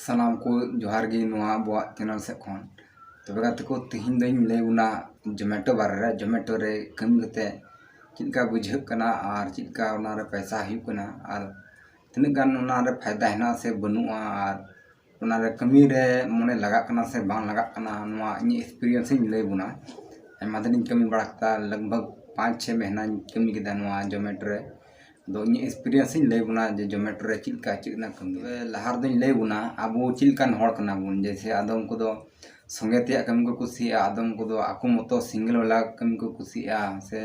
ᱥᱟᱱᱟᱢ ᱠᱚ ᱡᱚᱦᱟᱨ ᱜᱮ ᱱᱚᱣᱟ ᱟᱵᱚᱣᱟᱜ ᱪᱮᱱᱮᱞ ᱥᱮᱫ ᱠᱷᱚᱱ ᱛᱚᱵᱮ ᱜᱟᱛᱮ ᱠᱚ ᱛᱤᱦᱤᱧ ᱫᱚᱧ ᱞᱟᱹᱭ ᱵᱚᱱᱟ ᱡᱚᱢᱮᱴᱳ ᱵᱟᱨᱮ ᱨᱮ ᱡᱚᱢᱮᱴᱳ ᱨᱮ ᱠᱟᱹᱢᱤ ᱠᱟᱛᱮ ᱪᱮᱫ ᱞᱮᱠᱟ ᱵᱩᱡᱷᱟᱹᱜ ᱠᱟᱱᱟ ᱟᱨ ᱪᱮᱫ ᱞᱮᱠᱟ ᱚᱱᱟ ᱨᱮ ᱯᱚᱭᱥᱟ ᱦᱩᱭᱩᱜ ᱠᱟᱱᱟ ᱟᱨ ᱛᱤᱱᱟᱹᱜ ᱜᱟᱱ ᱚᱱᱟ ᱨᱮ ᱯᱷᱟᱭᱫᱟ ᱦᱮᱱᱟᱜᱼᱟ ᱥᱮ ᱵᱟᱹᱱᱩᱜᱼᱟ ᱟᱨ ᱚᱱᱟ ᱨᱮ ᱠᱟᱹᱢᱤ ᱨᱮ ᱢᱚᱱᱮ ᱞᱟᱜᱟᱜ ᱠᱟᱱᱟ ᱥᱮ ᱵᱟᱝ ᱞᱟᱜᱟᱜ ᱠᱟᱱᱟ ᱱᱚᱣᱟ ᱤᱧᱟᱹᱜ ᱮᱠᱥᱯᱨᱤᱭᱮᱱᱥ ᱤᱧ ᱞᱟᱹᱭ ᱵᱚᱱᱟ ᱟᱭᱢᱟ ᱫᱤᱱᱤᱧ ᱠᱟᱹᱢᱤ ᱵᱟᱲᱟ ᱠᱮᱫᱟ ᱞᱟᱜᱽ ᱵᱷᱟᱜᱽ ᱯᱟᱸᱪ ᱪᱷᱚᱭ ᱢᱟᱹᱦᱱᱟᱹᱧ ᱠᱟᱹᱢᱤ ᱠᱮᱫᱟ ᱱᱚᱣᱟ ᱡᱚᱢᱮᱴᱳ ᱨᱮ ᱫᱚ ᱤᱧᱟᱹᱜ ᱮᱠᱥᱯᱨᱤᱭᱮᱱᱥ ᱤᱧ ᱞᱟᱹᱭ ᱵᱚᱱᱟ ᱡᱮ ᱡᱚᱢᱮᱴᱳ ᱨᱮ ᱪᱮᱫ ᱞᱮᱠᱟ ᱪᱮᱫ ᱨᱮᱱᱟᱜ ᱠᱟᱹᱢᱤ ᱛᱚᱵᱮ ᱞᱟᱦᱟ ᱨᱮᱫᱚᱧ ᱞᱟᱹᱭ ᱵᱚᱱᱟ ᱟᱵᱚ ᱪᱮᱫ ᱞᱮᱠᱟᱱ ᱦᱚᱲ ᱠᱟᱱᱟ ᱵᱚᱱ ᱡᱮᱭᱥᱮ ᱟᱫᱚᱢ ᱠᱚᱫᱚ ᱥᱚᱸᱜᱮ ᱛᱮᱭᱟᱜ ᱠᱟᱹᱢᱤ ᱠᱚ ᱠᱩᱥᱤᱭᱟᱜᱼᱟ ᱟᱫᱚᱢ ᱠᱚᱫᱚ ᱟᱠᱚ ᱢᱚᱛᱚ ᱥᱤᱝᱜᱮᱞ ᱵᱟᱞᱟ ᱠᱟᱹᱢᱤ ᱠᱚ ᱠᱩᱥᱤᱭᱟᱜᱼᱟ ᱥᱮ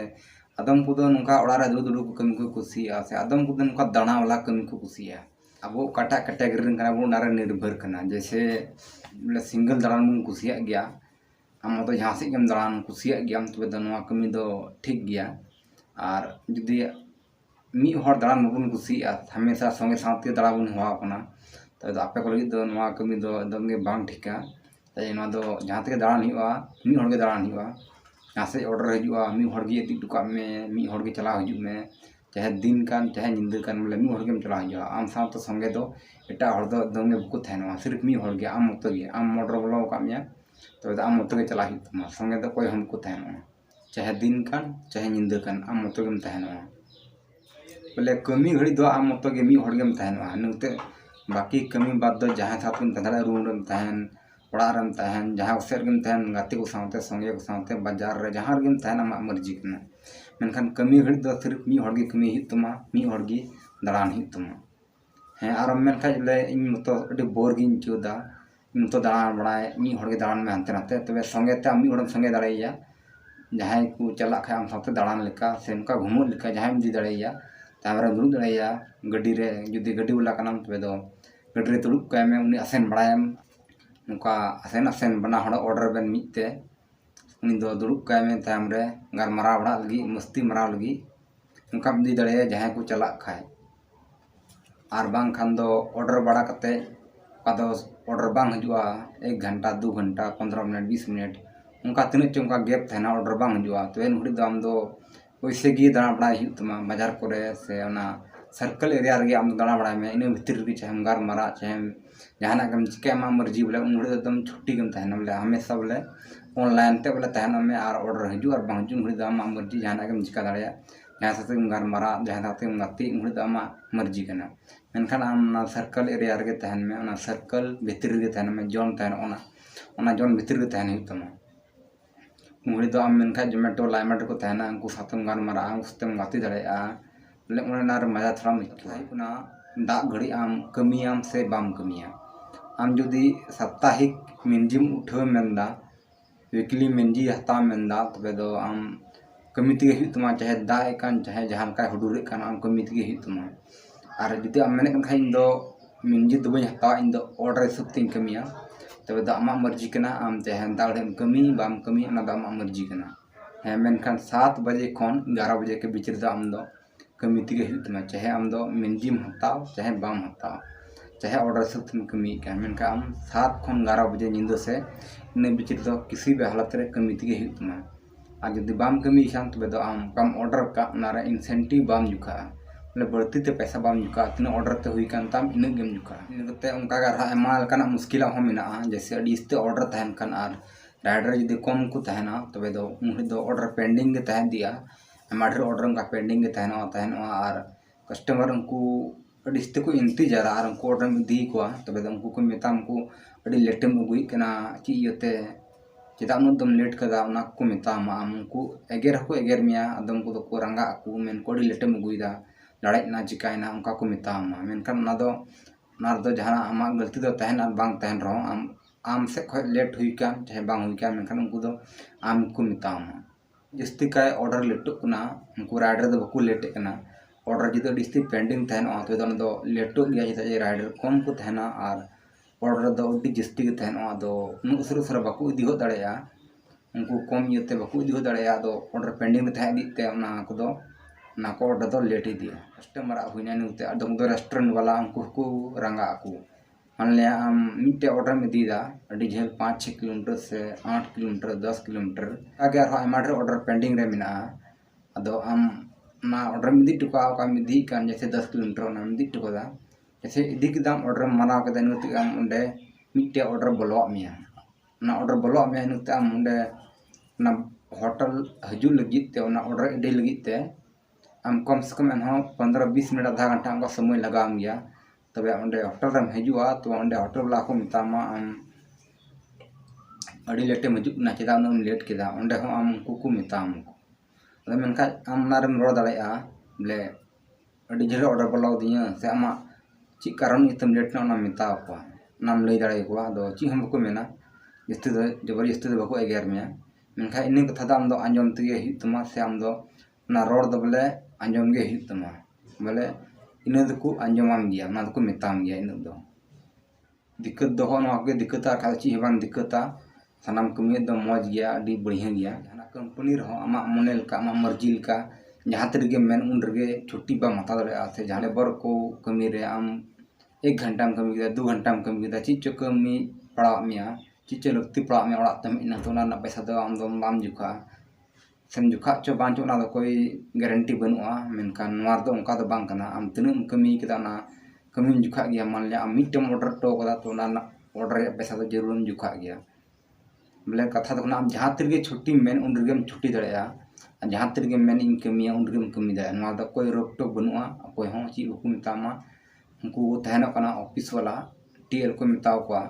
ᱟᱫᱚᱢ ᱠᱚᱫᱚ ᱱᱚᱝᱠᱟ ᱚᱲᱟᱜ ᱨᱮ ᱫᱩᱲᱩᱵ ᱫᱩᱲᱩᱵ ᱠᱟᱹᱢᱤ ᱠᱚ ᱠᱩᱥᱤᱭᱟᱜᱼᱟ ᱥᱮ ᱟᱫᱚᱢ ᱠᱚᱫᱚ ᱱᱚᱝᱠᱟ ᱫᱟᱬᱟ ᱵᱟᱞᱟ ᱠᱟᱹᱢᱤ ᱠᱚ ᱠᱩᱥᱤᱭᱟᱜᱼᱟ ᱟᱵᱚ ᱚᱠᱟᱴᱟᱜ ᱠᱮᱴᱟᱜᱚᱨᱤ ᱨᱮᱱ ᱠᱟᱱᱟ ᱵᱚᱱ ᱚᱱᱟ ᱨᱮ ᱱᱤᱨᱵᱷᱚᱨ ᱠᱟᱱᱟ ᱡᱮᱭᱥᱮ ᱵᱚᱞᱮ ᱥᱤᱝᱜᱮᱞ ᱫᱟᱬᱟᱱ ᱵᱚᱱ ᱠᱩᱥᱤᱭᱟᱜ ᱜᱮᱭᱟ ᱟᱢ ᱢᱚᱛᱚ ᱡᱟᱦᱟᱸ ᱥᱮᱫ ᱜᱮᱢ ᱫᱟᱬᱟᱱ ᱠᱩᱥᱤᱭᱟᱜ ᱜᱮᱭᱟᱢ ᱛᱚᱵᱮ ᱫᱚ ᱱᱚᱣᱟ ᱠᱟᱹᱢᱤ ᱫᱚ ᱴᱷᱤᱠ ᱜᱮᱭᱟ ᱟᱨ ᱡᱩᱫᱤ ᱢᱤᱫ ᱦᱚᱲ ᱫᱟᱬᱟᱱ ᱵᱟᱵᱚᱱ ᱠᱩᱥᱤᱭᱟᱜᱼᱟ ᱦᱟᱢᱮᱥᱟ ᱥᱚᱸᱜᱮ ᱥᱟᱶᱛᱮ ᱫᱟᱬᱟ ᱵᱚᱱ ᱦᱮᱣᱟ ᱠᱟᱱᱟ ᱛᱚᱵᱮ ᱫᱚ ᱟᱯᱮ ᱠᱚ ᱞᱟᱹᱜᱤᱫ ᱫᱚ ᱱᱚᱣᱟ ᱠᱟᱹᱢᱤ ᱫᱚ ᱮᱠᱫᱚᱢ ᱜᱮ ᱵᱟᱝ ᱴᱷᱤᱠᱟ ᱛᱟᱭ ᱱᱚᱣᱟ ᱫᱚ ᱡᱟᱦᱟᱸ ᱛᱮᱜᱮ ᱫᱟᱬᱟᱱ ᱦᱩᱭᱩᱜᱼᱟ ᱢᱤᱫ ᱦᱚᱲᱜᱮ ᱫᱟᱬᱟᱱ ᱦᱩᱭᱩᱜᱼᱟ ᱡᱟᱦᱟᱸ ᱥᱮᱫ ᱚᱰᱟᱨ ᱦᱤᱡᱩᱜᱼᱟ ᱢᱤᱫ ᱦᱚᱲᱜᱮ ᱤᱫᱤ ᱦᱚᱴᱚ ᱠᱟᱜ ᱢᱮ ᱢᱤᱫ ᱦᱚᱲᱜᱮ ᱪᱟᱞᱟᱣ ᱦᱤᱡᱩᱜ ᱢᱮ ᱪᱟᱦᱮ ᱫᱤᱱ ᱠᱟᱱ ᱪᱟᱦᱮ ᱧᱤᱫᱟᱹ ᱠᱟᱱ ᱵᱚᱞᱮ ᱢᱤᱫ ᱦᱚᱲᱜᱮᱢ ᱪᱟᱞᱟᱣ ᱦᱤᱡᱩᱜᱼᱟ ᱟᱢ ᱥᱟᱶᱛᱮ ᱥᱚᱸᱜᱮ ᱫᱚ ᱮᱴᱟᱜ ᱦᱚᱲ ᱫᱚ ᱮᱠᱫᱚᱢ ᱜᱮ ᱵᱟᱠᱚ ᱛᱟᱦᱮᱱᱟ ᱥᱤᱨᱤᱯ ᱢᱤᱫ ᱦᱚᱲᱜᱮ ᱟᱢ ᱢᱚᱛᱚ ᱜᱮ ᱟᱢ ᱢᱚᱴᱚᱨ ᱵᱚᱞᱚ ᱠᱟᱜ ᱢᱮᱭᱟ ᱛᱚᱵᱮ ᱫᱚ ᱟᱢ ᱢᱚᱛᱚ ᱜᱮ ᱪᱟᱞᱟᱜ ᱦᱩᱭᱩᱜ ᱛᱟᱢᱟ ᱥᱚᱸᱜᱮ ᱫᱚ ᱚᱠᱚᱭ ᱦᱚᱸ ᱵᱟᱠᱚ ᱛᱟᱦᱮᱱᱟ ᱪᱟᱦᱮ ᱫᱤᱱ ᱠᱟᱱ ᱪᱟᱦᱮ ᱧᱤᱫᱟᱹ ᱠᱟᱱ ᱟᱢ ᱢᱚᱛᱚ ᱜᱮᱢ ᱛᱟᱦᱮᱱᱟ ᱵᱚᱞᱮ ᱠᱟᱹᱢᱤ ᱜᱷᱟᱹᱲᱤᱡ ᱫᱚ ᱟᱢ ᱢᱚᱛᱚ ᱜᱮ ᱢᱤᱫ ᱦᱚᱲ ᱜᱮᱢ ᱛᱟᱦᱮᱱᱟ ᱦᱟᱹᱱᱤ ᱱᱟᱛᱮ ᱵᱟᱹᱠᱤ ᱠᱟᱹᱢᱤ ᱵᱟᱫᱽ ᱫᱚ ᱡᱟᱦᱟᱸᱭ ᱥᱟᱶ ᱛᱮᱜᱮᱢ ᱛᱟᱦᱮᱸ ᱫᱟᱲᱮᱭᱟᱜᱼᱟ ᱨᱩᱢ ᱨᱮᱢ ᱛᱟᱦᱮᱱ ᱚᱲᱟᱜ ᱨᱮᱢ ᱛᱟᱦᱮᱱ ᱡᱟᱦᱟᱸ ᱠᱚᱥᱮᱫ ᱨᱮᱜᱮᱢ ᱛᱟᱦᱮᱱ ᱜᱟᱛᱮ ᱠᱚ ᱥᱟᱶᱛᱮ ᱥᱚᱸᱜᱮ ᱠᱚ ᱥᱟᱶᱛᱮ ᱵᱟᱡᱟᱨ ᱨᱮ ᱡᱟᱦᱟᱸ ᱨᱮᱜᱮᱢ ᱛᱟᱦᱮᱱ ᱟᱢᱟᱜ ᱢᱟᱹᱨᱡᱤ ᱠᱟᱱᱟ ᱢᱮᱱᱠᱷᱟᱱ ᱠᱟᱹᱢᱤ ᱜᱷᱟᱹᱲᱤᱡ ᱫᱚ ᱥᱤᱨᱤᱯ ᱢᱤᱫ ᱦᱚᱲ ᱜᱮ ᱠᱟᱹᱢᱤ ᱦᱩᱭᱩᱜ ᱛᱟᱢᱟ ᱢᱤᱫ ᱦᱚᱲ ᱜᱮ ᱫᱟᱬᱟᱱ ᱦᱩᱭᱩᱜ ᱛᱟᱢᱟ ᱦᱮᱸ ᱟᱨᱚᱢ ᱢᱮᱱ ᱠᱷᱟᱡ ᱵᱚᱞᱮ ᱤᱧ ᱢᱚᱛᱚ ᱟᱹᱰᱤ ᱵᱳᱨ ᱜᱤᱧ ᱟᱹᱭᱠᱟᱹᱣ ᱫᱟ ᱤᱧ ᱢᱚᱛᱚ ᱫᱟᱬᱟᱱ ᱵᱟᱲᱟᱭ ᱢᱤᱫ ᱦᱚᱲ ᱜᱮ ᱫᱟᱬᱟᱱ ᱢᱮ ᱦᱟᱱᱛᱮ ᱱᱟᱛᱮ ᱛᱚᱵᱮ ᱥᱚᱸᱜᱮ ᱛᱮ ᱟᱢ ᱢᱤᱫ ᱦᱚᱲᱮᱢ ᱥᱚᱸᱜᱮ ᱫᱟᱲᱮᱭᱟᱭᱟ ᱡᱟᱦᱟᱸᱭ ᱠᱚ ᱪᱟᱞᱟᱜ ᱠᱷᱟᱡ ᱟᱢ ᱥᱟᱶᱛᱮ ᱫᱟᱬᱟᱱ ᱞᱮᱠᱟ ᱥᱮ ᱚᱱᱠᱟ ᱜᱷᱩᱢᱟᱹᱜ ᱞᱮᱠᱟ ᱡᱟᱦᱟᱸᱭᱮᱢ ᱤᱫᱤ ᱫᱟᱲᱮᱭᱟᱭᱟ ᱛᱟᱭᱚᱢ ᱨᱮᱢ ᱫᱩᱲᱩᱵ ᱫᱟᱲᱮᱭᱟᱭᱟ ᱜᱟᱹᱰᱤ ᱨᱮ ᱡᱩᱫᱤ ᱜᱟᱹᱰᱤ ᱵᱟᱞᱟ ᱠᱟᱱᱟᱢ ᱛᱚᱵᱮ ᱫᱚ ᱜᱟᱹᱰᱤ ᱨᱮ ᱫᱩᱲᱩᱵ ᱠᱟᱭ ᱢᱮ ᱩᱱᱤ ᱟᱥᱮᱱ ᱵᱟᱲᱟᱭᱮᱢ ᱱᱚᱝᱠᱟ ᱟᱥᱮᱱ ᱟᱥᱮᱱ ᱵᱟᱱᱟ ᱦᱚᱲ ᱚᱰᱟᱨ ᱵᱮᱱ ᱢᱤᱫ ᱛᱮ ᱩᱱᱤ ᱫᱚ ᱫᱩᱲᱩᱵ ᱠᱟᱭ ᱢᱮ ᱛᱟᱭᱚᱢ ᱨᱮ ᱜᱟᱞᱢᱟᱨᱟᱣ ᱵᱟᱲᱟᱜ ᱞᱟᱹᱜᱤᱫ ᱢᱚᱥᱛᱤ ᱢᱟᱨᱟᱣ ᱞᱟᱹᱜᱤᱫ ᱚᱱᱠᱟᱢ ᱤᱫᱤ ᱫᱟᱲᱮᱭᱟᱭᱟ ᱡᱟᱦᱟᱸᱭ ᱠᱚ ᱪᱟᱞᱟᱜ ᱠᱷᱟᱡ ᱟᱨ ᱵᱟᱝᱠᱷᱟᱱ ᱫᱚ ᱚᱰᱟᱨ ᱵᱟᱲᱟ ᱠᱟᱛᱮ ᱟᱫᱚ ᱚᱰᱟᱨ ᱵᱟᱝ ᱦᱤᱡᱩᱜᱼᱟ ᱮᱠ ᱜᱷᱚᱱᱴᱟ ᱫᱩ ᱜᱷᱚᱱᱴᱟ ᱯᱚᱱᱨᱚ ᱢᱤᱱᱤᱴ ᱵᱤᱥ ᱢᱤᱱᱤᱴ ᱚᱱᱠᱟ ᱛᱤᱱᱟᱹᱜ ᱪᱚᱝ ᱚᱱᱠᱟ ᱜᱮᱯ ᱛᱟᱦᱮᱱᱟ ᱚᱰᱟᱨ ᱵᱟᱝ ᱦᱤᱡᱩᱜᱼᱟ ᱛᱚ ᱩᱱ ᱜᱷᱟᱹᱲᱤᱡ ᱫᱚ ᱟᱢ ᱫᱚ ᱯᱩᱭᱥᱟᱹ ᱜᱮ ᱫᱟᱬᱟ ᱵᱟᱲᱟᱭ ᱦᱩᱭᱩᱜ ᱛᱟᱢᱟ ᱵᱟᱡᱟᱨ ᱠᱚᱨᱮ ᱥᱮ ᱚᱱᱟ ᱥᱟᱨᱠᱮᱞ ᱮᱨᱤᱭᱟ ᱨᱮᱜᱮ ᱟᱢ ᱫᱟᱬᱟ ᱵᱟᱲᱟᱭ ᱢᱮ ᱤᱱᱟᱹ ᱵᱷᱤᱛᱤᱨ ᱨᱮᱜᱮ ᱪᱟᱦᱮᱢ ᱜᱟᱞᱢᱟᱨᱟᱜ ᱪᱟᱦᱮᱢ ᱡᱟᱦᱟᱱᱟᱜ ᱜᱮᱢ ᱪᱤᱠᱟᱹᱭ ᱟᱢᱟᱜ ᱢᱟᱹᱨᱡᱤ ᱵᱚᱞᱮ ᱩᱱ ᱜᱷᱟᱹᱲᱤᱡ ᱫᱚ ᱮᱠᱫᱚᱢ ᱪᱷᱩᱴᱤ ᱜᱮᱢ ᱛᱟᱦᱮᱱᱟ ᱵᱚᱞᱮ ᱦᱟᱢᱮᱥᱟ ᱵᱚᱞᱮ ᱚᱱᱞᱟᱭᱤᱱ ᱛᱮ ᱵᱚᱞᱮ ᱛᱟᱦᱮᱱᱚᱜ ᱢᱮ ᱟᱨ ᱚᱰᱟᱨ ᱦᱤᱡᱩᱜ ᱟᱨ ᱵᱟᱝ ᱦᱤᱡᱩᱜ ᱩᱱ ᱜᱷᱟᱹᱲᱤᱡ ᱫᱚ ᱟᱢᱟᱜ ᱢᱟᱹᱨᱡᱤ ᱡᱟᱦᱟᱱᱟᱜ ᱜᱮᱢ ᱪᱤᱠᱟᱹ ᱫᱟᱲᱮᱭᱟᱜ ᱡᱟᱦᱟᱸᱭ ᱥᱟᱛᱮᱜ ᱮᱢ ᱜᱟᱞᱢᱟᱨᱟᱜ ᱡᱟᱦᱟᱸᱭ ᱥᱟᱛᱮᱜ ᱮᱢ ᱜᱟᱛᱮᱜ ᱩᱱᱤ ᱫᱚ ᱟᱢᱟᱜ ᱢᱟᱹᱨᱡᱤ ᱠᱟᱱᱟ ᱢᱮᱱᱠᱷᱟᱱ ᱟᱢ ᱚᱱᱟ ᱥᱟᱨᱠᱮᱞ ᱮᱨᱤᱭᱟ ᱨᱮᱜᱮ ᱛᱟᱦᱮᱱ ᱢᱮ ᱚᱱᱟ ᱥᱟᱨᱠᱮᱞ ᱵᱷᱤᱛᱨᱤ ᱨᱮᱜᱮ ᱛᱟᱦᱮᱱ ᱢᱮ ᱡᱚᱱ ᱛᱟᱦᱮᱱ ᱚᱱᱟ ᱚᱱᱟ ᱡᱚᱱ ᱵᱷᱤᱛᱨᱤ ᱨᱮᱜᱮ ᱛᱟᱦᱮᱱ ᱦᱩᱭᱩᱜ ᱛᱟᱢᱟ ᱩᱱᱤ ᱫᱚ ᱟᱢ ᱢᱮᱱᱠᱷᱟᱡ ᱡᱚᱢᱮᱴᱳ ᱞᱟᱭᱤᱢᱟᱴ ᱨᱮᱠᱚ ᱛᱟᱦᱮᱱᱟ ᱩᱱᱠᱩ ᱥᱟᱶᱛᱮᱢ ᱜᱟᱞᱢᱟᱨᱟᱜᱼᱟ ᱩᱱᱠᱩ ᱥᱟᱛᱮᱢ ᱜᱟᱛᱮ ᱫᱟᱲᱮᱭᱟᱜᱼᱟ ᱵᱚᱞᱮ ᱚᱱᱮ ᱚᱱᱟᱨᱮ ᱢᱚᱡᱟ ᱛᱷᱚᱲᱟᱢ ᱟᱹᱭᱠᱟᱹᱣᱟ ᱦᱩᱭᱩᱜ ᱠᱟᱱᱟ ᱫᱟᱜ ᱜᱷᱟᱹᱲᱤᱡ ᱟᱢ ᱠᱟᱹᱢᱤᱭᱟᱢ ᱥᱮ ᱵᱟᱢ ᱠᱟᱹᱢᱤᱭᱟ ᱟᱢ ᱡᱩᱫᱤ ᱥᱟᱯᱛᱟᱦᱤᱠ ᱢᱤᱱᱡᱤᱢ ᱩᱴᱷᱟᱹᱣ ᱮᱢ ᱢᱮᱱᱫᱟ ᱩᱭᱤᱠᱞᱤ ᱢᱮᱱᱫᱤ ᱦᱟᱛᱟᱣ ᱮᱢ ᱢᱮᱱᱫᱟ ᱛᱚᱵᱮ ᱫᱚ ᱟᱢ ᱠᱟᱹᱢᱤ ᱛᱮᱜᱮ ᱦᱩᱭᱩᱜ ᱛᱟᱢᱟ ᱪᱟᱦᱮ ᱫᱟᱜ ᱮᱜ ᱠᱟᱱ ᱪᱟᱦᱮ ᱡᱟᱦᱟᱸ ᱞᱮᱠᱟᱭ ᱦᱩᱰᱩᱨ ᱮᱜ ᱠᱟᱱ ᱟᱢ ᱠᱟᱹᱢᱤ ᱛᱮᱜᱮ ᱦᱩᱭᱩᱜ ᱛᱟᱢᱟ ᱟᱨ ᱡᱩᱫᱤ ᱟᱢ ᱢᱮᱱᱮᱜ ᱠᱟᱱ ᱠᱷᱟᱡ ᱤᱧ ᱫᱚ ᱢᱮᱱᱫᱤ ᱫᱚ ᱵᱟᱹᱧ ᱦᱟᱛᱟᱣᱟ ᱤᱧ ᱫᱚ ᱚᱰᱟᱨ ᱦᱤᱥᱟᱹᱵ ᱛᱤᱧ ᱠᱟᱹᱢᱤᱭᱟ ᱛᱚᱵᱮ ᱫᱚ ᱟᱢᱟᱜ ᱢᱟᱹᱨᱡᱤ ᱠᱟᱱᱟ ᱟᱢ ᱡᱟᱦᱟᱸ ᱫᱟᱜ ᱨᱮᱢ ᱠᱟᱹᱢᱤ ᱵᱟᱢ ᱠᱟᱹᱢᱤ ᱚᱱᱟ ᱫᱚ ᱟᱢᱟᱜ ᱢᱟᱹᱨᱡᱤ ᱠᱟᱱᱟ ᱦᱮᱸ ᱢᱮᱱᱠᱷᱟᱱ ᱥᱟᱛ ᱵᱟᱡᱮ ᱠᱷᱚᱱ ᱮᱜᱟᱨᱚ ᱵᱟᱡᱮ ᱠᱮ ᱵᱷᱤᱛᱤᱨ ᱫᱚ ᱟᱢ ᱫᱚ ᱠᱟᱹᱢᱤ ᱛᱮᱜᱮ ᱦᱩᱭᱩᱜ ᱛᱟᱢᱟ ᱪᱟᱦᱮ ᱟᱢ ᱫᱚ ᱢᱤᱱᱫᱤᱢ ᱦᱟᱛᱟᱣ ᱪᱟᱦᱮ ᱵᱟᱢ ᱦᱟᱛᱟᱣ ᱪᱟᱦᱮ ᱚᱰᱟᱨ ᱦᱤᱥᱟᱹᱵ ᱛᱮᱢ ᱠᱟᱹᱢᱤᱭᱮᱫ ᱠᱟᱱ ᱢᱮᱱᱠᱷᱟᱱ ᱟᱢ ᱥᱟᱛ ᱠᱷᱚᱱ ᱮᱜᱟᱨᱚ ᱵᱟᱡᱮ ᱧᱤᱫᱟᱹ ᱥᱮᱫ ᱤᱱᱟᱹ ᱵᱷᱤᱛᱤᱨ ᱨᱮᱫᱚ ᱠᱤᱥᱤ ᱵᱤ ᱦᱟᱞᱚᱛ ᱨᱮ ᱠᱟᱹᱢᱤ ᱛᱮᱜᱮ ᱦᱩᱭᱩᱜ ᱛᱟᱢᱟ ᱟᱨ ᱡᱩᱫᱤ ᱵᱟᱢ ᱠᱟᱹᱢᱤ ᱠᱷᱟᱱ ᱛᱚᱵᱮ ᱫᱚ ᱟᱢ ᱚᱠᱟᱢ ᱚᱰᱟᱨ ᱠᱟᱜ ᱚᱱᱟ ᱨᱮᱭᱟᱜ ᱤᱱᱥᱮᱱᱴᱤᱵᱷ ᱵᱟᱢ ᱡᱚᱠᱷᱟᱜᱼᱟ ᱵᱚᱞᱮ ᱵᱟᱹᱲᱛᱤ ᱛᱮ ᱯᱚᱭᱥᱟ ᱵᱟᱢ ᱡᱚᱠᱷᱟᱜᱼᱟ ᱛᱤᱱᱟᱹᱜ ᱚᱰᱟᱨ ᱛᱮ ᱦᱩᱭ ᱠᱟᱱ ᱛᱟᱢ ᱤᱱᱟᱹᱜ ᱜᱮᱢ ᱡᱚᱠᱷᱟᱜᱼᱟ ᱤᱱᱟᱹ ᱠᱟᱛᱮ ᱚᱱᱠᱟ ᱜᱮ ᱟᱨᱦᱚᱸ ᱟᱭᱢᱟ ᱞᱮᱠᱟᱱᱟᱜ ᱢᱩᱥᱠᱤᱞ ᱟᱜ ᱦᱚᱸ ᱢᱮᱱᱟᱜᱼᱟ ᱡᱮᱭᱥᱮ ᱟᱹᱰᱤ ᱡᱟᱹᱥᱛᱤ ᱚᱰᱟᱨ ᱛᱟᱦᱮᱱ ᱠᱷᱟᱱ ᱟᱨ ᱨᱟᱭᱰᱟᱨ ᱡᱩᱫᱤ ᱠᱚᱢ ᱠᱚ ᱛᱟᱦᱮᱱᱟ ᱛᱚᱵᱮ ᱫᱚ ᱩᱱ ᱜᱷᱟᱹᱲᱤᱡ ᱫᱚ ᱚᱰᱟᱨ ᱯᱮᱱᱰᱤᱝ ᱜᱮ ᱛᱟᱦᱮᱸ ᱤᱫᱤᱜᱼᱟ ᱟᱭᱢᱟ ᱰᱷᱮᱨ ᱚᱰᱟᱨ ᱚᱱᱠᱟ ᱯᱮᱱᱰᱤᱝ ᱜᱮ ᱛᱟᱦᱮᱱᱚᱜᱼᱟ ᱛᱟᱦᱮᱱᱚᱜᱼᱟ ᱟᱨ ᱠᱟᱥᱴᱚᱢᱟᱨ ᱩᱱᱠᱩ ᱟᱹᱰᱤ ᱡᱟᱹᱥᱛᱤ ᱠᱚ ᱤᱱᱛᱮᱡᱟᱨᱟ ᱟᱨ ᱩᱱᱠᱩ ᱚᱰᱟᱨᱮᱢ ᱤᱫᱤ ᱟᱠᱚᱣᱟ ᱛᱚᱵᱮ ᱫᱚ ᱩᱱᱠᱩ ᱠᱚ ᱢᱮᱛᱟᱢ ᱠᱚ ᱟᱹᱰᱤ ᱞᱮᱴᱮᱢ ᱟᱹᱜᱩᱭᱮᱫ ᱠᱟᱱᱟ ᱪᱮᱫ ᱤᱭᱟᱹᱛᱮ ᱪᱮᱫᱟᱜ ᱩᱱᱟᱹᱜ ᱫᱚᱢ ᱞᱮᱴ ᱠᱟᱫᱟ ᱚᱱᱟ ᱠᱚᱠᱚ ᱢᱮᱛᱟᱢᱟ ᱟᱢ ᱩᱱᱠᱩ ᱮᱜᱮᱨ ᱦᱚᱸᱠᱚ ᱮᱜᱮᱨ ᱢᱮᱭᱟ ᱟᱫᱚᱢ ᱠᱚᱫᱚ ᱠᱚ ᱨᱟᱸᱜᱟᱜ ᱟᱠᱚ ᱢᱮᱱ ᱟᱠᱚ ᱟᱹᱰᱤ ᱞᱮᱴᱮᱢ ᱟᱹᱜᱩᱭᱮᱫᱟ ᱞᱟᱲᱮᱡ ᱮᱱᱟ ᱪᱤᱠᱟᱭᱮᱱᱟ ᱚᱱᱠᱟ ᱠᱚ ᱢᱮᱛᱟᱢᱟ ᱢᱮᱱᱠᱷᱟᱱ ᱚᱱᱟ ᱫᱚ ᱚᱱᱟ ᱨᱮᱫᱚ ᱡᱟᱦᱟᱱᱟᱜ ᱟᱢᱟᱜ ᱜᱟᱹᱞᱛᱤ ᱫᱚ ᱛᱟᱦᱮᱱ ᱟᱨ ᱵᱟᱝ ᱛᱟᱦᱮᱱ ᱨᱮᱦᱚᱸ ᱟᱢ ᱟᱢ ᱥᱮᱫ ᱠᱷᱚᱱ ᱞᱮᱴ ᱦᱩᱭ ᱟᱠᱟᱱ ᱪᱟᱦᱮ ᱵᱟᱝ ᱦᱩᱭ ᱟᱠᱟᱱ ᱢᱮᱱᱠᱷᱟᱱ ᱩᱱᱠᱩ ᱫᱚ ᱟᱢ ᱜᱮᱠᱚ ᱢᱮᱛᱟᱢᱟ ᱡᱟᱹᱥᱛᱤ ᱠᱟᱭ ᱚᱰᱟᱨ ᱞᱮᱴᱚᱜ ᱠᱟᱱᱟ ᱩᱱᱠᱩ ᱨᱟᱭᱰᱟᱨ ᱫᱚ ᱵᱟᱠᱚ ᱞᱮᱴᱮᱜ ᱠᱟᱱᱟ ᱚᱰᱟᱨ ᱡᱩᱫᱤ ᱟᱹᱰᱤ ᱡᱟᱹᱥᱛᱤ ᱯᱮᱱᱰᱤᱝ ᱛᱟᱦᱮᱱᱚᱜᱼᱟ ᱛᱚᱵᱮ ᱫᱚ ᱚᱱᱟ ᱫᱚ ᱞᱮᱴᱚᱜ ᱜᱮᱭᱟ ᱪᱮᱫᱟᱜ ᱡᱮ ᱨᱟᱭᱰᱟᱨ ᱠᱚᱢ ᱠᱚ ᱛᱟᱦᱮᱱᱟ ᱟᱨ ᱚᱰᱟᱨ ᱫᱚ ᱟᱹᱰᱤ ᱡᱟᱹᱥᱛᱤ ᱜᱮ ᱛᱟᱦᱮᱱᱚᱜᱼᱟ ᱟᱫᱚ ᱩᱱᱟᱹᱜ ᱩᱥᱟᱹᱨᱟ ᱩᱥᱟᱹᱨᱟ ᱵᱟᱠᱚ ᱤᱫᱤ ᱦᱚᱫ ᱫᱟᱲᱮᱭᱟᱜᱼᱟ ᱩᱱᱠᱩ ᱠᱚᱢ ᱤᱭᱟᱹᱛᱮ ᱵᱟᱠᱚ ᱤᱫᱤ ᱦᱚᱫ ᱫᱟᱲᱮᱭᱟᱜᱼᱟ ᱟᱫᱚ ᱚᱰᱟᱨ ᱯᱮᱱᱰᱤᱝ ᱨᱮ ᱛᱟᱦᱮᱸ ᱤᱫᱤᱜ ᱛᱮ ᱚᱱᱟ ᱠᱚᱫᱚ ᱚᱱᱟ ᱠᱚ ᱚᱰᱟᱨ ᱫᱚ ᱞᱮᱴ ᱤᱫᱤᱜᱼᱟ ᱠᱟᱥᱴᱚᱢᱟᱨ ᱟᱜ ᱦᱩᱭᱱᱟ ᱱᱤᱭᱟᱹᱛᱮ ᱟᱫᱚᱢ ᱫᱚ ᱨᱮᱥᱴᱩᱨᱮᱱᱴ ᱵᱟᱞᱟ ᱩᱱᱠᱩ ᱦᱚᱸᱠᱚ ᱨᱟᱸᱜᱟᱜ ᱟᱠᱚ ᱢᱟᱱ ᱞᱤᱭᱟ ᱟᱢ ᱢᱤᱫᱴᱮᱡ ᱚᱰᱟᱨᱮᱢ ᱤᱫᱤᱭᱮᱫᱟ ᱟᱹᱰᱤ ᱡᱷᱟᱹᱞ ᱯᱟᱸᱪ ᱪᱷᱚ ᱠᱤᱞᱳᱢᱤᱴᱟᱨ ᱥᱮ ᱟᱴ ᱠᱤᱞᱳᱢᱤᱴᱟᱨ ᱫᱚᱥ ᱠᱤᱞᱳᱢᱤᱴᱟᱨ ᱚᱱᱠᱟ ᱜᱮ ᱟᱨᱦᱚᱸ ᱟᱭᱢᱟ ᱰᱷᱮᱨ ᱚᱰᱟᱨ ᱯᱮᱱᱰᱤᱝ ᱨᱮ ᱢᱮᱱᱟᱜᱼᱟ ᱟᱫᱚ ᱟᱢ ᱚᱱᱟ ᱚᱰᱟᱨᱮᱢ ᱤᱫᱤ ᱦᱚᱴᱚ ᱠᱟᱜᱼᱟ ᱚᱠᱟᱢ ᱤᱫᱤᱭᱮᱫ ᱠᱟᱱ ᱡᱮᱭᱥᱮ ᱫᱚᱥ ᱠᱤᱞᱳᱢᱤᱴᱟᱨ ᱚᱱᱟᱢ ᱤᱫᱤ ᱦᱚᱴᱚ ᱠᱟᱫᱟ ᱡᱮᱭᱥᱮ ᱤᱫᱤ ᱠᱮᱫᱟᱢ ᱚᱰᱟᱨᱮᱢ ᱢᱟᱱᱟᱣ ᱠᱮᱫᱟ ᱤᱱᱟᱹ ᱛᱮᱜᱮ ᱟᱢ ᱚᱸᱰᱮ ᱢᱤᱫᱴᱮᱡ ᱚᱰᱟᱨ ᱵᱚᱞᱚᱣᱟᱜ ᱢᱮᱭᱟ ᱚᱱᱟ ᱚᱰᱟᱨ ᱵᱚᱞᱚᱣᱟᱜ ᱢᱮᱭᱟ ᱤᱱᱟᱹᱛᱮ ᱟᱢ ᱚᱸᱰᱮ ᱚᱱᱟ ᱦᱳᱴᱮᱞ ᱦᱤᱡᱩᱜ ᱞᱟᱹᱜᱤᱫ ᱛᱮ ᱚᱱᱟ ᱚᱰᱟᱨ ᱤᱫᱤ ᱞᱟᱹᱜᱤᱫ ᱛᱮ ᱟᱢ ᱠᱚᱢ ᱥᱮ ᱠᱚᱢ ᱮᱱᱦᱚᱸ ᱯᱚᱱᱨᱚ ᱵᱤᱥ ᱢᱤᱱᱤᱴ ᱟᱫᱷᱟ ᱜᱷᱚᱱᱴᱟ ᱚᱱᱠᱟ ᱥᱚᱢᱚᱭ ᱞᱟᱜᱟᱣᱟᱢ ᱜᱮᱭᱟ ᱛᱚᱵᱮ ᱚᱸᱰᱮ ᱦᱳᱴᱮᱞ ᱨᱮᱢ ᱦᱤᱡᱩᱜᱼᱟ ᱛᱚ ᱚᱸᱰᱮ ᱦᱳᱴᱮᱞ ᱵᱟᱞᱟ ᱠᱚ ᱢᱮᱛᱟᱢᱟ ᱟᱢ ᱟᱹᱰᱤ ᱞᱮᱴᱮᱢ ᱦᱤᱡᱩᱜ ᱠᱟᱱᱟ ᱪᱮᱫᱟᱜ ᱩᱱᱟᱹᱜ ᱮᱢ ᱞᱮᱴ ᱠᱮᱫᱟ ᱚᱸᱰᱮ ᱦᱚᱸ ᱟᱢ ᱩᱱᱠᱩ ᱠᱚ ᱢᱮᱛᱟᱢ ᱟᱫᱚ ᱢᱮᱱᱠᱷᱟᱡ ᱟᱢ ᱚᱱᱟ ᱨᱮᱢ ᱨᱚᱲ ᱫᱟᱲᱮᱭᱟᱜᱼᱟ ᱵᱚᱞᱮ ᱟᱹᱰᱤ ᱡᱷᱟᱹᱞ ᱨᱮ ᱚᱰᱟᱨ ᱵᱚᱞᱚ ᱟᱹᱫᱤᱧᱟ ᱥᱮ ᱟᱢᱟᱜ ᱪᱮᱫ ᱠᱟᱨᱚᱱ ᱤᱭᱟᱹᱛᱮᱢ ᱞᱮᱴ ᱮᱱᱟ ᱚᱱᱟᱢ ᱢᱮᱛᱟᱣ ᱠᱚᱣᱟ ᱚᱱᱟᱢ ᱞᱟᱹᱭ ᱫᱟᱲᱮ ᱠᱚᱣᱟ ᱟᱫᱚ ᱪᱮᱫ ᱦᱚᱸ ᱵᱟᱠᱚ ᱢᱮᱱᱟ ᱡᱟᱹᱥᱛᱤ ᱫᱚ ᱡᱚᱵᱚᱨ ᱡᱟᱹᱥᱛᱤ ᱫᱚ ᱵᱟᱠᱚ ᱮᱜᱮᱨ ᱢᱮᱭᱟ ᱢᱮᱱᱠᱷᱟᱡ ᱤᱱᱟᱹ ᱠᱟᱛᱷᱟ ᱫᱚ ᱟᱢ ᱫᱚ ᱟᱸᱡᱚᱢ ᱛᱮᱜᱮ ᱦᱩᱭᱩᱜ ᱛᱟᱢᱟ ᱥᱮ ᱟᱢ ᱫᱚ ᱚᱱᱟ ᱨᱚᱲ ᱫᱚ ᱵᱚᱞᱮ ᱟᱸᱡᱚᱢ ᱜᱮ ᱦᱩᱭᱩᱜ ᱛᱟᱢᱟ ᱵᱚᱞᱮ ᱤᱱᱟᱹ ᱫᱚᱠᱚ ᱟᱸᱡᱚᱢᱟᱢ ᱜᱮᱭᱟ ᱚᱱᱟ ᱫᱚᱠᱚ ᱢᱮᱛᱟᱢ ᱜᱮᱭᱟ ᱤᱱᱟᱹᱜ ᱫᱚ ᱫᱤᱠᱠᱟᱹᱛ ᱫᱚ ᱦᱚᱸᱜᱼᱚ ᱱᱚᱣᱟ ᱠᱚᱜᱮ ᱫᱤᱠᱠᱟᱹᱛᱟ ᱟᱨ ᱵᱟᱠᱷᱟᱡ ᱫᱚ ᱪᱮᱫ ᱦᱚᱸ ᱵᱟᱝ ᱫᱤᱠᱠᱟᱹᱛᱟ ᱥᱟᱱᱟᱢ ᱠᱟᱹᱢᱤ ᱫᱚ ᱢᱚᱡᱽ ᱜᱮᱭᱟ ᱟᱹᱰᱤ ᱵᱟᱹᱲᱦᱭᱟᱹ ᱜᱮᱭᱟ ᱡᱟᱦᱟᱱᱟᱜ ᱠᱳᱢᱯᱟᱱᱤ ᱨᱮᱦᱚᱸ ᱟᱢᱟᱜ ᱢᱚᱱᱮ ᱞᱮᱠᱟ ᱟᱢᱟᱜ ᱢᱟᱹᱨᱡᱤ ᱞᱮᱠᱟ ᱡᱟᱦᱟᱸ ᱛᱤᱨᱮᱜᱮᱢ ᱢᱮᱱ ᱩᱱ ᱨᱮᱜᱮ ᱪᱷᱩᱴᱤ ᱵᱟᱢ ᱦᱟᱛᱟᱣ ᱫᱟᱲᱮᱭᱟᱜᱼᱟ ᱥᱮ ᱡᱟᱦᱟᱸ ᱞᱮᱵᱚᱨ ᱠᱚ ᱠᱟᱹᱢᱤ ᱨᱮ ᱟᱢ ᱮᱠ ᱜᱷᱚᱱᱴᱟᱢ ᱠᱟᱹᱢᱤ ᱠᱮᱫᱟ ᱫᱩ ᱜᱷᱚᱱᱴᱟᱢ ᱠᱟᱹᱢᱤ ᱠᱮᱫᱟ ᱪᱮᱫ ᱪᱚ ᱠᱟᱹᱢᱤ ᱯᱟᱲᱟᱣᱟᱫ ᱢᱮᱭᱟ ᱪᱮᱫ ᱪᱚ ᱞᱟᱹᱠᱛᱤ ᱯᱟᱲᱟᱣᱟᱫ ᱢᱮᱭᱟ ᱚᱲᱟᱜ ᱛᱮᱢ ᱦᱮᱡ ᱮᱱᱟ ᱛᱚ ᱚᱱᱟ ᱨᱮᱱᱟᱜ ᱯᱚᱭᱥᱟ ᱫᱚ ᱟᱢ ᱫᱚ ᱵᱟᱢ ᱡᱩᱠᱷᱟ ᱥᱮᱢ ᱡᱚᱠᱷᱟ ᱪᱚ ᱵᱟᱝ ᱪᱚ ᱚᱱᱟ ᱫᱚ ᱚᱠᱚᱭ ᱜᱮᱨᱮᱱᱴᱤ ᱵᱟᱹᱱᱩᱜᱼᱟ ᱢᱮᱱᱠᱷᱟᱱ ᱱᱚᱣᱟ ᱨᱮᱫᱚ ᱚᱱᱠᱟ ᱫᱚ ᱵᱟᱝ ᱠᱟᱱᱟ ᱟᱢ ᱛᱤᱱᱟᱹᱜ ᱮᱢ ᱠᱟᱹᱢᱤ ᱠᱟᱫᱟ ᱚᱱᱟ ᱠᱟᱹᱢᱤᱢ ᱡᱚᱠᱷᱟᱜ ᱜᱮᱭᱟ ᱢᱟᱱᱞᱮ ᱟᱢ ᱢᱤᱫᱴᱮᱱ ᱮᱢ ᱚᱰᱟᱨ ᱦᱚᱴᱚ ᱠᱟᱫᱟ ᱛᱚ ᱚᱱᱟ ᱨᱮᱱᱟᱜ ᱚᱰᱟᱨ ᱨᱮᱭᱟᱜ ᱯᱚᱭᱥᱟ ᱫᱚ ᱡᱟᱹᱨᱩᱲ ᱮᱢ ᱡᱚᱠᱷᱟᱜ ᱜᱮᱭᱟ ᱵᱚᱞᱮ ᱠᱟᱛᱷᱟ ᱫᱚ ᱠᱟᱱᱟ ᱟᱢ ᱡᱟᱦᱟᱸ ᱛᱤ ᱨᱮᱜᱮ ᱪᱷᱩᱴᱤᱢ ᱢᱮᱱ ᱩᱱ ᱨᱮᱜᱮᱢ ᱪᱷᱩᱴᱤ ᱫᱟᱲᱮᱭᱟᱜᱼᱟ ᱟᱨ ᱡᱟᱦᱟᱸ ᱛᱤ ᱨᱮᱜᱮᱢ ᱢᱮᱱ ᱤᱧ ᱠᱟᱹᱢᱤᱭᱟ ᱩᱱ ᱨᱮᱜᱮᱢ ᱠᱟᱹᱢᱤ ᱫᱟᱲᱮᱭᱟᱜᱼᱟ ᱱᱚᱣᱟ ᱫᱚ ᱚᱠᱚᱭ ᱨᱳᱠ ᱴᱳᱠ ᱵᱟᱹᱱᱩᱜᱼᱟ ᱚᱠᱚᱭ ᱦᱚᱸ ᱪᱮᱫ ᱦᱚᱸ ᱵᱟᱠᱚ ᱢᱮᱛᱟᱢᱟ ᱩᱱᱠᱩ ᱠᱚ ᱛᱟᱦᱮᱱᱚᱜ ᱠᱟᱱᱟ ᱚᱯᱷᱤᱥ ᱵᱟᱞᱟ ᱴᱤ ᱮᱞ ᱠᱚ ᱢᱮᱛᱟᱣ ᱠᱚᱣᱟ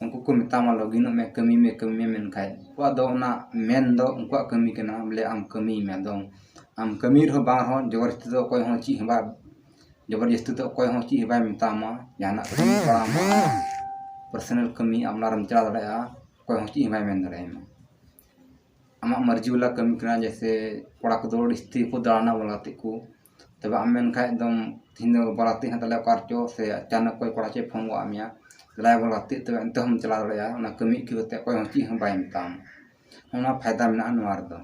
ᱩᱱᱠᱩ ᱠᱚ ᱢᱮᱛᱟᱢᱟ ᱞᱚᱜᱤᱱᱚᱜ ᱢᱮ ᱠᱟᱹᱢᱤ ᱢᱮ ᱠᱟᱹᱢᱤ ᱢᱮ ᱢᱮᱱᱠᱷᱟᱡ ᱩᱱᱠᱩᱣᱟᱜ ᱫᱚ ᱚᱱᱟ ᱢᱮᱱ ᱫᱚ ᱩᱱᱠᱩᱣᱟᱜ ᱠᱟᱹᱢᱤ ᱠᱟᱱᱟ ᱵᱚᱞᱮ ᱟᱢ ᱠᱟᱹᱢᱤᱭ ᱢᱮ ᱟᱫᱚ ᱟᱢ ᱠᱟᱹᱢᱤ ᱨᱮᱦᱚᱸ ᱵᱟᱝ ᱨᱮᱦᱚᱸ ᱡᱚᱵᱚᱨ ᱡᱟᱹᱥᱛᱤ ᱫᱚ ᱚᱠᱚᱭ ᱦᱚᱸ ᱪᱮᱫ ᱦᱚᱸ ᱵᱟᱭ ᱡᱚᱵᱚᱨ ᱡᱟᱹᱥᱛᱤ ᱫᱚ ᱚᱠᱚᱭ ᱦᱚᱸ ᱪᱮᱫ ᱦᱚᱸ ᱵᱟᱭ ᱢᱮᱛᱟᱢᱟ ᱡᱟᱦᱟᱱᱟᱜ ᱠᱟᱹᱢᱤ ᱵᱟᱲᱟ ᱟᱢ ᱯᱟᱨᱥᱳᱱᱟᱞ ᱠᱟᱹᱢᱤ ᱟᱢ ᱚᱱᱟ ᱨᱮᱢ ᱪᱟᱞᱟᱣ ᱫᱟᱲᱮᱭᱟᱜᱼᱟ ᱚᱠᱚᱭ ᱦᱚᱸ ᱪᱮᱫ ᱦᱚᱸ ᱵᱟᱭ ᱢᱮᱱ ᱫᱟᱲᱮᱭᱟᱢᱟ ᱟᱢᱟᱜ ᱢᱟᱹᱨᱡᱤ ᱵᱟᱞᱟ ᱠᱟᱹᱢᱤ ᱠᱟᱱᱟ ᱡᱮᱭᱥᱮ ᱠᱚᱲᱟ ᱠᱚᱫᱚ ᱟᱹᱰᱤ ᱡᱟᱹᱥᱛᱤ ᱠᱚ ᱫᱟᱬᱟᱱᱟ ᱵᱚᱞ ᱜᱟᱛᱮᱜ ᱠᱚ ᱛᱚ ᱵᱟᱢ ᱢᱮᱱ ᱠᱷᱟᱡ ᱫᱚ ᱛᱮᱦᱮᱧ ᱫᱚ ᱵᱟᱨᱟ ᱛᱮ ᱦᱮᱱᱟᱜ ᱛᱟᱞᱮᱭᱟ ᱚᱠᱟ ᱨᱮᱪᱚ ᱥᱮ ᱟᱪᱟᱱᱚᱠ ᱚᱠᱚᱭ ᱠᱚᱲᱟ ᱪᱚᱭ ᱯᱷᱳᱱ ᱜᱚᱫ ᱟᱫ ᱢᱮᱭᱟ ᱫᱮᱞᱟᱭᱟ ᱵᱚᱱ ᱜᱟᱛᱮᱜ ᱛᱚᱵᱮ ᱮᱱᱛᱮ ᱦᱚᱸᱢ ᱪᱟᱞᱟᱣ ᱫᱟᱲᱮᱭᱟᱜᱼᱟ ᱚᱱᱟ ᱠᱟᱹᱢᱤ ᱟᱹᱭᱠᱟᱹᱣ ᱠᱟᱛᱮ ᱚᱠᱚᱭ ᱦᱚᱸ ᱪᱮᱫ ᱦᱚᱸ ᱵᱟᱭ ᱢᱮᱛᱟᱢ ᱚᱱᱟ ᱯᱷᱟᱭᱫᱟ ᱢᱮᱱᱟᱜᱼᱟ ᱱᱚᱣᱟ ᱨᱮᱫᱚ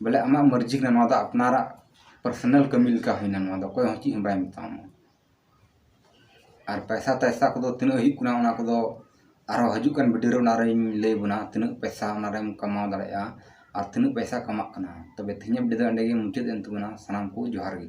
ᱵᱚᱞᱮ ᱟᱢᱟᱜ ᱢᱟᱹᱨᱡᱤ ᱠᱟᱱᱟ ᱱᱚᱣᱟ ᱫᱚ ᱟᱯᱱᱟᱨᱟᱜ ᱯᱟᱨᱥᱚᱱᱟᱞ ᱠᱟᱹᱢᱤ ᱞᱮᱠᱟ ᱦᱩᱭᱱᱟ ᱱᱚᱣᱟ ᱫᱚ ᱚᱠᱚᱭ ᱦᱚᱸ ᱪᱮᱫ ᱦᱚᱸ ᱵᱟᱭ ᱢᱮᱛᱟᱢᱟ ᱟᱨ ᱯᱚᱭᱥᱟ ᱴᱚᱭᱥᱟ ᱠᱚᱫᱚ ᱛᱤᱱᱟᱹᱜ ᱦᱩᱭᱩᱜ ᱠᱟᱱᱟ ᱚᱱᱟ ᱠᱚᱫᱚ ᱟᱨᱚ ᱦᱤᱡᱩᱜ ᱠᱟᱱ ᱵᱷᱤᱰᱤᱭᱳ ᱨᱮ ᱚᱱᱟ ᱨᱤᱧ ᱞᱟᱹᱭ ᱵᱚᱱᱟ ᱛᱤᱱᱟᱹᱜ ᱯᱚᱭᱥᱟ ᱚᱱᱟ ᱨᱮᱢ ᱠᱟᱢᱟᱣ ᱫᱟᱲᱮᱭᱟᱜᱼᱟ ᱟᱨ ᱛᱤᱱᱟᱹᱜ ᱯᱚᱭᱥᱟ ᱠᱟᱢᱟᱜ ᱠᱟᱱᱟ ᱛᱚᱵᱮ ᱛᱮᱦᱮᱧᱟᱜ ᱵᱷᱤᱰᱤᱭᱳ ᱫᱚ ᱮᱸᱰᱮ ᱜᱮ ᱢᱩᱪᱟᱹᱫ ᱮᱱ ᱛᱟᱵᱚᱱᱟ ᱥᱟᱱᱟᱢ ᱠᱚ ᱡᱚᱦᱟᱨ ᱜᱮ